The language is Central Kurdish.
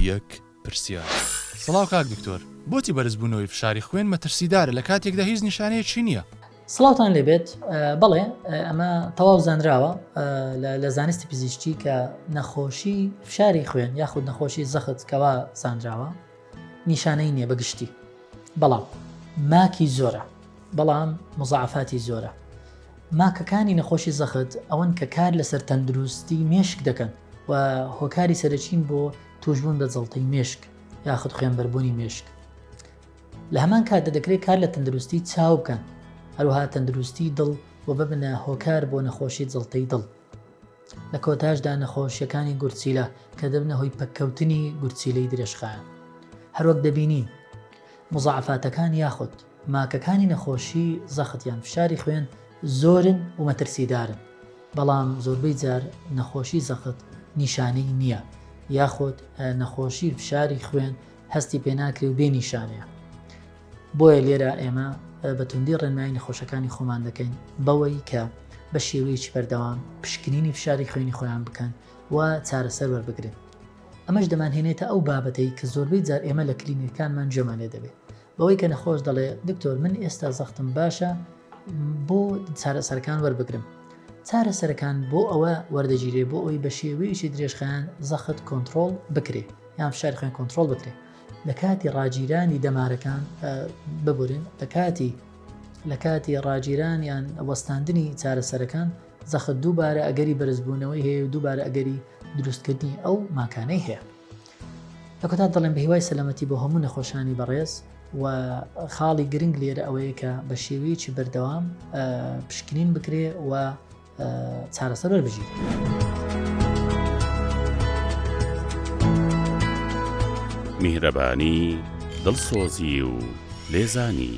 یەک پرسیار. سڵاو کاک دکتۆر بۆچی بەرزبوونەوەی فشاری خوێن مەترسیدارە لە کاتێکدا هیچ نیشانەیەکی نییە؟ سڵاوتان لێبێت بەڵێ ئەمە تەواو زانراوە لە زانستی پزیشتی کە نەخۆشی فشاری خوێن یاخود نەخۆشی زەخت کەوا زانراوە نیشانەی نییە بەگشتی بەڵام ماکی زۆرە بەڵام مزعفاتی زۆرە ماکەکانی نەخۆشی زەخت ئەوەن کە کار لەسەر تەندروستی مێشک دەکەن و هۆکاری سەرەکین بۆ تووشبوون بە جەڵتەی مێشک یاخود خوێنبەربوونی مێشک لە هەمان کاتدا دەکرێت کار لە تەندروستی چاو بکەن هەروها تەندروستی دڵ و ببنە هۆکار بۆ نەخۆشی جەڵتەی دڵ لە کۆتاشدا نەخۆشیەکانی گورچیلە کە دەبنە هۆی پەککەوتنی گورچیلەی درێژخایەن هەروەک دەبینین مزعفاتەکان یاخود ماکەکانی نەخۆشی زەخت یان فشاری خوێن زۆرن و مەترسیدارن، بەڵام زۆربەی جار نەخۆشی زەخت نیشانەی نییە یاخود نەخۆشی فشاری خوێن هەستی پێناکرێ و بێ نیشانەیە. بۆیە لێرە ئێمە بە توندی ڕێنمایی نەخۆشەکانی خۆمان دەکەین بەوەی کە بە شێوەیەکی بەردەوام پشکنینی فشاری خوێنی خۆیان بکەن و چارەسەر وەربگرن. ئەمەش دەمانهێنێتە ئەو بابەتەی کە زۆربەی جار ئێمە لە کلینیکەکانمان گوێمان لێ دەبێ بەوەی کە نەخۆش دەڵێ دکتۆر من ئێستا زەختم باشە بۆ چارەسەرەکان وەربگرم چارەسەرەکان بۆ ئەوە وەردەگیرێ بۆ ئەوی بە شێوەیەکی درێژخان زەخت کۆنتترۆل بکرێ یان فشار خوێن کۆنتترۆل بکرێ لە کاتی ڕاگیرانی دەمارەکان ببورن لە کاتی لە کاتی ڕاگیران یان وەستاندنی چارەسەرەکان زەخت دووبارە ئەگەری بەرزبوونەوەی هەیە و دووبارە ئەگەری دروستکردنی ئەو ماکانەی هەیە لە کۆتا دەڵێم بە هیوای سەلامەتی بۆ هەموو نەخۆشانی بەڕێز و خاڵی گرنگ لێرە ئەوەیە کە بە شێوەیەکی بەردەوام پشکنین بکرێ و چارەسەر وەربژیت. میهرەبانی دڵسۆزی و لێزانی.